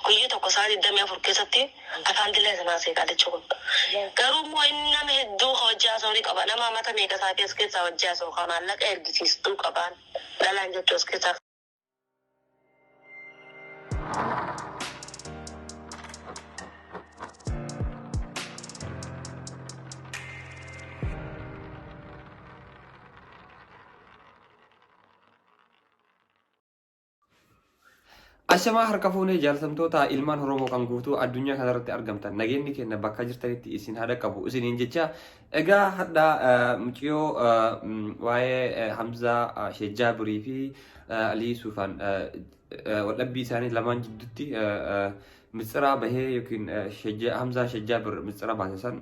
Guyya tokko saa digdamii afur keessatti afaan dila isin haasee qaalichi kun. Garuu immoo inni nama hedduu ka wajji haasa'u ni qaba. Nama amata meeqa isaatii as keessaa wajji haasa'u ka maallaqa ergisiistuu qabaan dhalaan jettu as keessaa Ashamaa harka fuunee jaaltamtoota ilmaan Oromoo kan guutuu addunyaa kanarratti argamtan nageenyi keenya bakka jirtanitti isin haa dhaqqabu isiniin jecha egaa hadha muciyoo waa'ee Hamzaa Shejjaabirii fi Alii Suufaan waldhabbii isaanii lamaan jidduutti mitsiraa bahee yookiin Hamzaa Shejjaabir mitsiraa baase san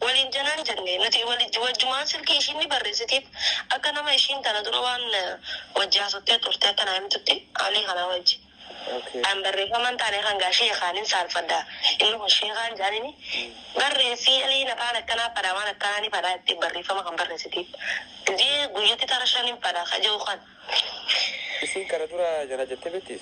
Waliin janaan jenne. Nuti wajjumaan silkii ishiin ni barreessitiif. Akka nama ishiin tana dura waan wajji haasottee turte akka naa himtutti Alii kanaa wajji. An barreeffama hin taane kan gaa sheekaanin saalfadha. Inni kun sheekaan jaanini barreessii Aliin afaan akkanaa fadha waan akkanaa ni fadha jettee barreeffama kan barreessitiif. Gizee guyyatti tara shan hin fadha ka jehu kan. Isiin kana dura janajante betti?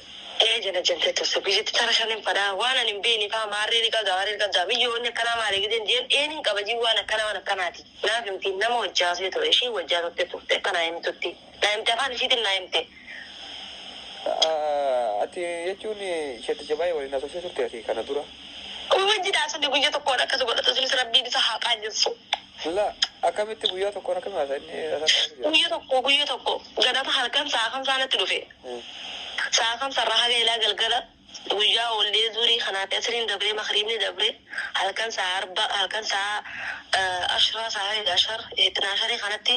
Ee janajante turte guyyatti tara shanin fadha waan ani hin beeyne faa maarree ni qabda maarree ni qabda miyyoo wanni akkanaa maali gideen jeen ee nin qaba jii waan akkanaa waan akkanaati naaf himti nama wajji haasee ture ishiin wajji haasofte turte akka naa himtutti naa himte afaan ishiitin naa himte Ati jechuun shetticha baay'ee waliin haasofsee turte ati kana dura? Wajji daasofne guyya tokkoon akkas godhata sunis rabbiin isa haa qaanjessu. Silaa akkamitti guyyaa tokkoon akkami haasa inni haasaan akkami jira? Guyya tokko guyya tokko ganama halkan sa'a kamsaa natti dhufe. Sa'a kamsarraa haga ilaa galgala guyyaa oollee zuurii kanaafi asriin dabree makriibni dabree halkan sa'a arba halkan sa'a ashraa sa'a heda ashar itnaasharii kanatti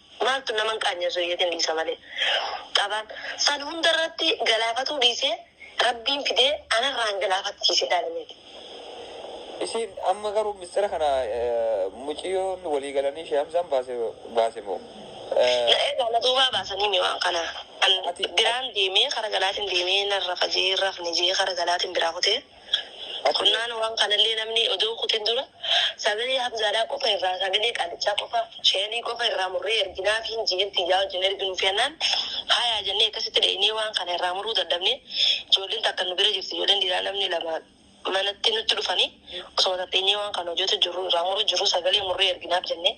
Maaltu nama hin qaanyeessu iyyatiin dhiisa malee. Qabaan san hunda irratti galaafatuu dhiisee Rabbiin fidee anarraan galaafachiise ilaali mee. Isiin amma garuu mistira kana muciyyoon walii galanii Shee Hamzaan baase baase moo? Na eegaa na duubaa baasanii mi waan kana. An Ati- biraan deemee kara galaatiin deemee narra fajee hin rafne jee kara galaatiin biraa kutee. Boqonnaan waan kanallee namni odoo hin kutin dura sagalee Hamzaadhaa qofa irraa sagalee qaallichaa qofa sheelii qofa irraa murree erginaafii hin jiin tiyyaa wajjin erginuufi jennaan hayaa jennee akkasitti dheeynee waan kana irraa muruu dadhabnee ijoolleen takka nu bira jirti ijoolleen dhiiraa namni lama manatti nutti dhufanii osoma tatteenyee waan kana hojjatu jirru irraa muru jirru sagalee murree erginaaf jennee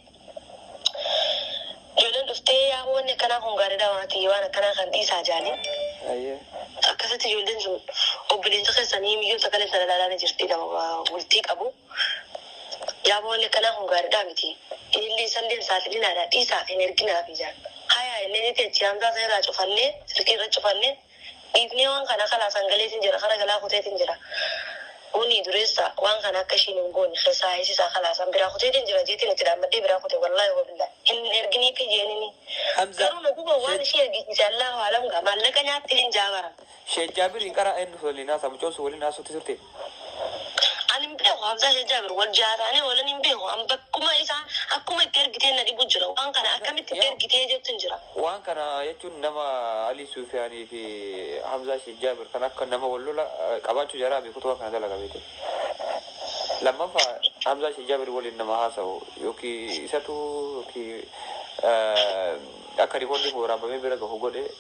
Ijoolleen dhuftee yaa wanni akkanaa kun gaariidha waan ati waan akkanaa kan dhiisaa jaaniin. Ayyee. Akkasitti ijoolleen sun obboleessa keessanii miyyoo sagalee sana ilaalaa ni jirti nama bultii qabu. Yaa wanni akkanaa kun gaariidha miti. Ilillee isallee hin saaxilinaadha dhiisaa hin erginaafi jaan. Hayaa illee ni teechi hamzaa seeraa cufannee silkii irra cufannee. Dhiifnee waan kana kalaasaan galeetin jira kara galaa kuteetin jira Bunii dureessa waan kana akka ishiin hin goone keessaa heesisaa kalaasaan biraa kuteetin jira jeetin itti dhaammadhee biraa kute wallaahi wabillaahi hin erginiifi jeenini Hamza garuu na guba waan Sheikh ishii ergisiise Allaahu aalam gaa maallaqa nyaatti hin jaa bara. Sheikh Jaabir hin qara'a eennuuf waliin haasa'a mucoon sun waliin haasofti turte. Ani hin beeku Hamzaa Sheikh Jaabir wal jaataanii oolan hin beeku. An bakkuma isaa akkuma itti ergitee na dhibu jira. Waan kana akkamitti itti ergitee jettu hin jira. Waan kana jechuun nama Alii Suufiyaanii fi Hamzaa Sheikh Jaabir kan akka nama wal lola qabaachuu jaraa miti kutuba kana dalaga beekte. Lammaffa Hamzaa Sheikh Jaabir waliin nama haasa'u yookiin isatu yookiin akka rikoordiin waraabamee bira gahu godhe.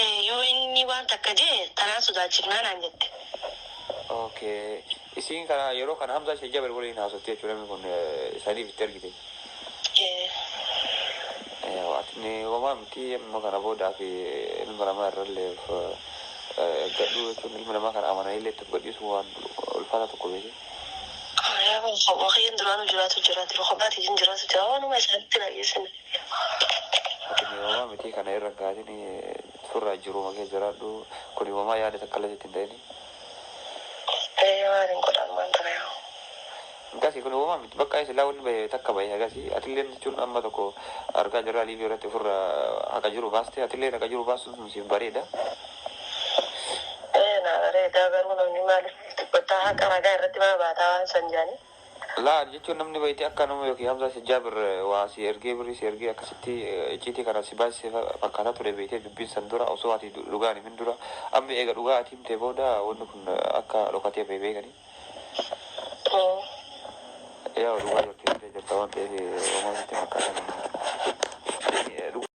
Ee, yoo inni waan takka je'e, tanaan sodaachifnaa naan jette. Ok. Isiin kana yeroo kana Hamzaa Sheikh Jabir waliin haasofti jechuun namni kun saniif itti ergite. Ee. Eewa atni wamaa miti amma kana boodaa fi ilma namaa irralleef eeggadhu jechuun ilma namaa kana amananiillee itti of gadhiisuu waan ulfaataa tokko beeki. Yaa waan kiyyaan duraanuu jiraatu jiraati. Rukabaa tiyyan jiraatu jira. Waanuma isaanitti hin hayyeessine. Atin imamaa mitii kana irra hin kaatini surraa jiruuma kee jiraadhu kun imamaa yaada takkallee sitti hin ta'ini. Ee maalin godha ammaan tana yaa. Akkasi kun imamaa miti baqqaa silaa wanni bahe takka bahe hagasi atilleen jechuun amma tokko argaa jirraa liivii irratti ofirra haqa jiru baaste atilleen haqa jiru baasun sun siif bareeda. Ee naa bareedaa garuu namni maalif dubbattaa haqa ragaa irratti maa baataa waan san jedhani. Laal jechuun namni wayiti akka nama yookiin Hamzaa isa Jaabir waa sii ergee birrii sii ergee akkasitti icciitii kanaan si baasise fakkaataa ture beektee dubbiin san dura osoo ati dhugaa hin himin dura amma eega dhugaa ati himtee booda wanni kun akka dhokatee bahe beekanii Ee. Yaa'u dhugaa jartii himtee jirta waan ta'eef homaa sitti hin fakkaatanii.